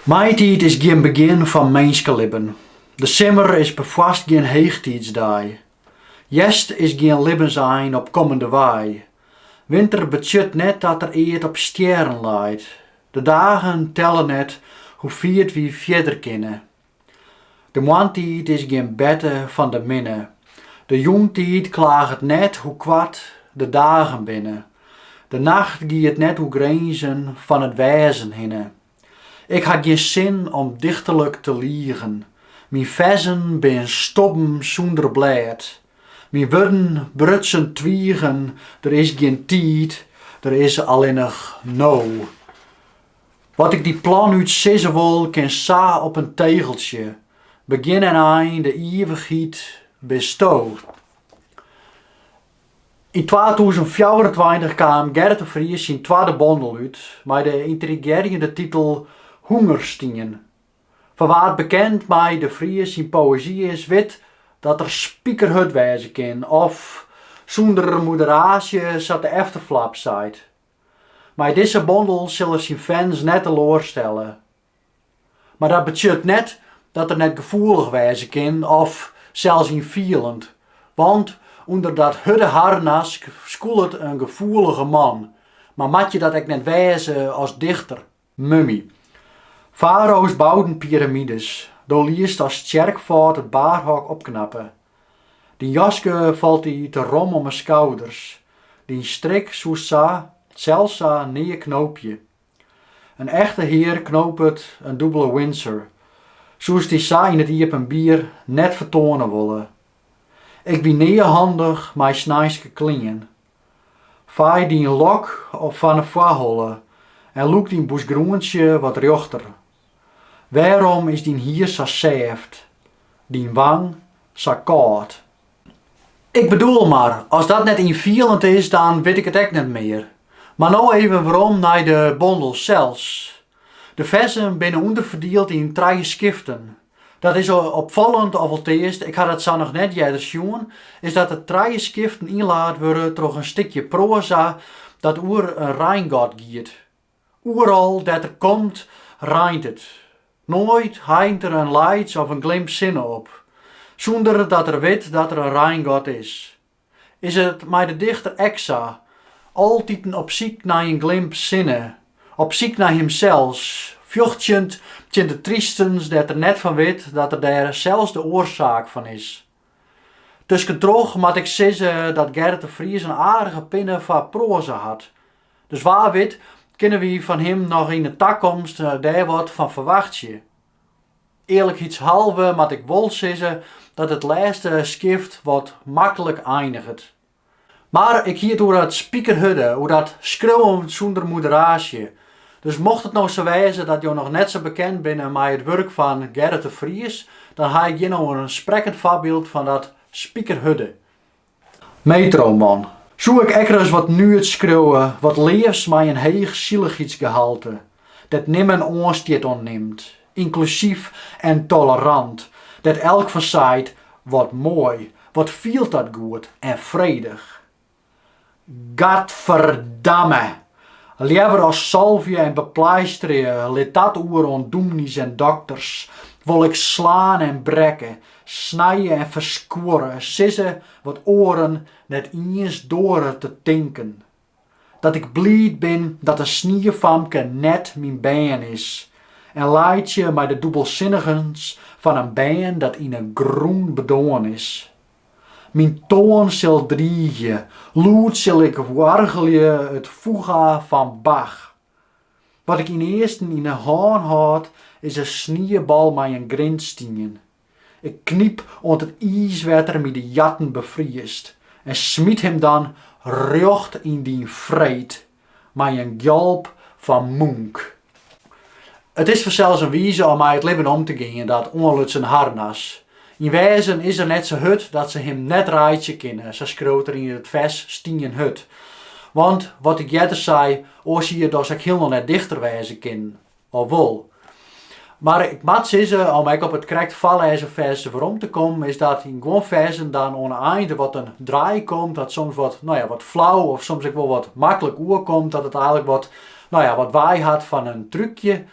Maitiid is gjin begjin fan minskelibben. De simmer is perfoarst gjin heechtiidsdei. Hjerst is gjin libbensein op kommende wei. Winter betsjut net dat der eat op stjerren leit. De dagen telle net hoe fier't wy fierder kinne. De moarntiid is gjin berte fan de minne. De jûntiid klaget net hoe koart de dagen binne. De nacht giet net oer grinzen fan it wêzen hinne. Ik ha gjin sin om dichterlik te ligen. Myn ferzen binne stobben sûnder blêd. Myn wurden brutsen twigen, der is gjin tiid, der is allinnich no. Wat ik dy planút sizze wol, kin sa op in tegeltsje, begjin en ein, de ivichheid bisto. Yn twatûzen fjouwerentweintich kaam Gerrit de Vries syn twadde bondel út mei de yntrigearjende titel Hûngerstien. Foar wa't bekend mei de Vries syn poëzy is, wit dat er spikerhurd wêze kin of, sûnder moderaasje, sa't de efterflap seit. Mei dizze bondel sil er syn fans net teloarstelle. Mar dat betsjut net dat er net gefoelich wêze kin of sels ynfielend, want ûnder dat hurde harnask skoelet in gefoelige man, mar moat je dat ek net wêze as dichter. Mummy. Farao's bouden piramides, do liest as tsjerkfâd it baarhok opknappe. Dyn jaske falt dy te rom om 'e skouders, dyn strik soest sa, sels sa, nea knoopje. In echte hear knopet in dûbele Windsor, soest dy sa yn it iepenbier net fertoane wolle. Ik wie nea handich mei sneinske klean, Fei dyn lok op fan 'e foarholle en lûk dyn boesgroentsje wat rjochter. Wêrom is dyn hier sa sêft, dyn wang sa kâld? Ik bedoel mar, as dat net ynfielend is, dan wit ik it ek net mear. Mar no even werom nei de bondel sels. De ferzen binne ûnderferdield yn trije skiften. Dat is opfallend, alteast ik ha dat sa noch net earder sjoen, is dat de trije skiften ynlaat wurde troch in stikje proaza dat oer in reingod giet. Oeral dêr't er komt, reint it. Noait heint er in laits of in glimp sinne op, sûnder dat er wit dat er in reingod is. Is it mei de dichter ek sa? Altiten op syk nei in glimp sinne, op syk nei himsels, fjochtjend tsjin de tristens dêr't er net fan wit dat er dêr sels de oarsaak fan is. Tuskentroch moat ik sizze dat Gerrit de Vries in aardige pinne foar proaza hat, dus wa wit kinne wy fan him noch yn 'e takomst dêr wat fan ferwachtsje. Earlikheidshalve moat ik wol sizze dat it lêste skift wat maklik einiget. Mar ik hie it oer dat spikerhurde, oer dat skriuwen sûnder moderaasje. Dus mocht it no sa wêze dat jo noch net sa bekend binne mei it wurk fan Gerrit de Vries, dan ha ik hjir no in sprekkend foarbyld fan dat spikerhurde. Metroman. Soe ik ek ris wat nuets skriuwe, wat leafs mei in heech sillichheidsgehalte, dêr't nimmen oanstjit oan nimt, ynklusyf en tolerant, dêr't elk fan seit, wat moai, wat fielt dat goed en fredich. Gadverdamme! Leaver as salvje en bepleisterje, lit dat oer oan dûmnys en dokters, wol ik slaan en brekke, snije en ferskuorre, sizze wat oaren net iens duorre te tinken. Dat ik bliid bin dat it sniefamke net myn bern is, en laitsje mei de dûbelsinnigens fan in bern dat yn 'e grûn bedoarn is. Myn toan sil driigje, lûd sil ik oargelje it Fuga fan Bach. Wat ik ynearsten yn 'e hân hâld, is in sniebal mei in grindstien. Ik knyp oant it iiswetter my de jatten befriest en smyt him dan rjocht yn dyn fret. mei in gjalp fan Munch. It is fansels in wize om mei it libben om te gean dat oanlutsen harnas. Yn wêzen is er net sa hurd dat se him net reitsje kinne, sa skriuwt er yn it fers Stien hurd. Want, wat ik earder sei, oars hie er dochs ek hielendal net dichter wêze kinnen. Of wol? Mar ik moat sizze, om ek op it krekt foarlêzen fers werom te kommen, is dat yn guon fersen dan oan 'e ein der wat in draai komt, dat soms wat, no ja, wat flau of soms ek wol wat maklik oerkomt, dat it eigenlik wat, no ja, wat wei hat fan in trúkje.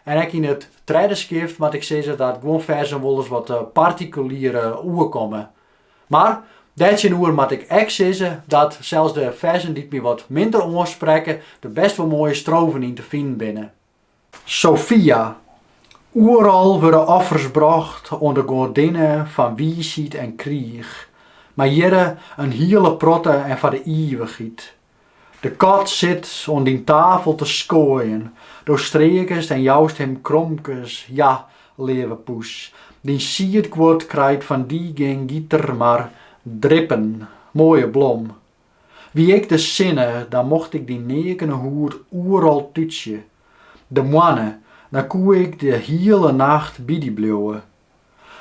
En ek yn it tredde skift moat ik sizze dat guon fersen wolris wat partikulier oerkomme. Mar dêrtsjinoer moat ik ek sizze dat sels de fersen dy't my wat minder oansprekke der bêst wol moaie strofen yn te finen binne. Sofia, Oeral wurde offers brocht oan de goadinne fan wiisheid en kriich, mar hjirre in hiele protte en foar de ivichheid. De kat sit oan dyn tafel te skoaien, do streakest en joust him kromkes, ja, leave poes, dyn siedguod krijt fan dy gjin gieter mar drippen. Moaie blom. Wie ik de sinne, dan mocht ik dyn neakene hûd oeral tútsje. De moanne, dan koe ik de hiele nacht by dy bliuwe.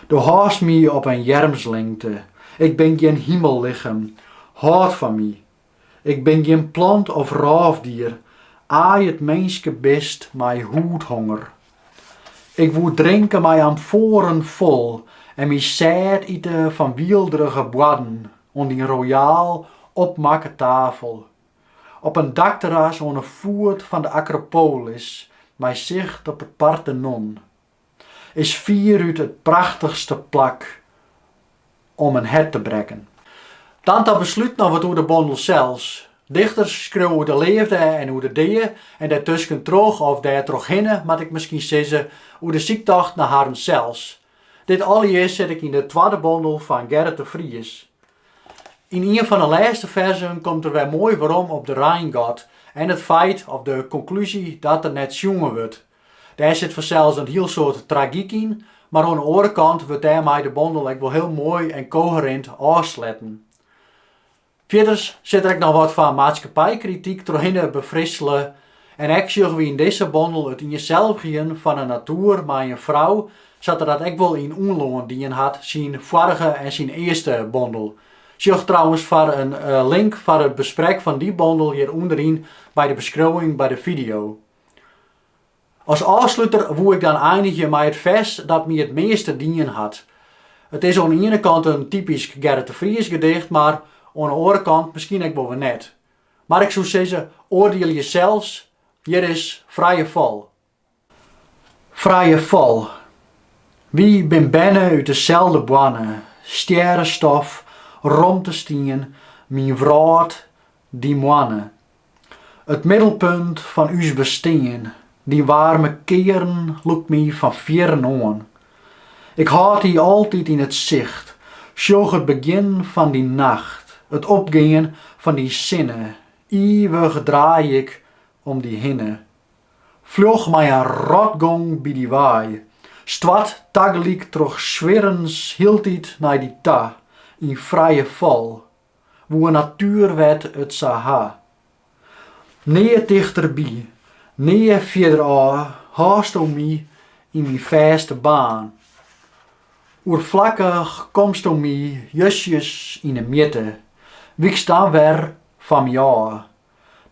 Do hâldst my op in earmslingte, ik bin gjin himellichem, hâld fan my, Ik bin gjin plant of rôfdier, aai it minskebist mei hûdhonger. Ik woe drinke mei amfoaren fol en my sêd ite fan wielderige boarden oan dyn royaal opmakke tafel. Op in dakterras oan 'e foet fan de Akropolis mei sicht op it Partenon. is fierút it prachtichste plak om in hert te brekken. Dan ta beslút noch wat oer de bondel sels. Dichters skriuwe oer de leafde en oer de dea en dêrtusken troch of dêrtrochhinne, moat ik miskien sizze, oer de syktocht nei harren sels. Dit alles sit ek yn de twadde bondel fan Gerrit de Vries. Yn ien fan de lêste ferzen komt er wer moai werom op de reingod en it feit of de konklúzje dat er net sjoen wurdt. Dêr sit fansels in hiel soad tragyk yn, mar oan 'e oare kant wurdt dêrmei de bondel ek wol hiel moai en koherint ôfsletten. Fierders sit der ek noch wat fan maatskippijkrityk trochhinne befrissele en ek sjogge wy yn dizze bondel it ienselvigjen fan 'e natoer mei in frou, sa't er dat ek wol yn Unlân dien hat syn foarige en syn earste bondel. Sjoch trouwens foar in link foar it besprek fan dy bondel hjir ûnderyn by de beskriuwing by de fideo. As ôfsluter woe ik dan einigje mei it fers dat my it measte dien hat. It is oan 'e iene kant in typysk Gerrit de Vries gedicht, mar oan 'e oare kant miskien ek wol wer net. Mar ik soe sizze, oardielje sels, hjir is Frije Fal. Frije Fal. Wy bin berne út deselde boarne, stjerrestof, romtestien, myn wrâld, dyn moanne. It middelpunt fan ús bestean, dyn waarme kearn lûkt my fan fierren oan. Ik hâld dy altyd yn it sicht, sjoch it begjin fan dyn nacht, it opgean fan dyn sinne, ivich draai ik om dy hinne. Fljoch mei in rotgong by dy wei, stoart tagelyk troch swierens hieltyd nei dy ta, yn frije fal, Woe natuerwet it sa ha. Nea tichterby, nea fierderôf hâldsto my yn myn fêste baan. Oerflakkich komsto my justjes yn 'e mjitte, wykst dan wer fan my ôf.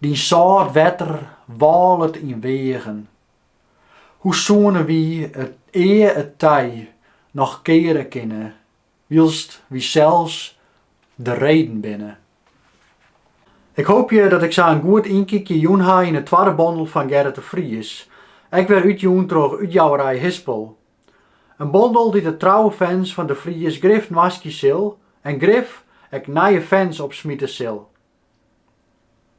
Dyn sâlt wetter wâlet yn weagen. Hoe soene wy it ea it tij noch keare kinne? Wylst wy sels de reden binne. Ik hoopje dat ik sa in goed ynkykje jûn ha yn 'e twadde bondel fan Gerrit de Vries, ek wer útjûn troch útjouwerij Hispel. In bondel dy't de trouwe fans fan de Vries grif noaskje sil en grif ek nije fans opsmite sil.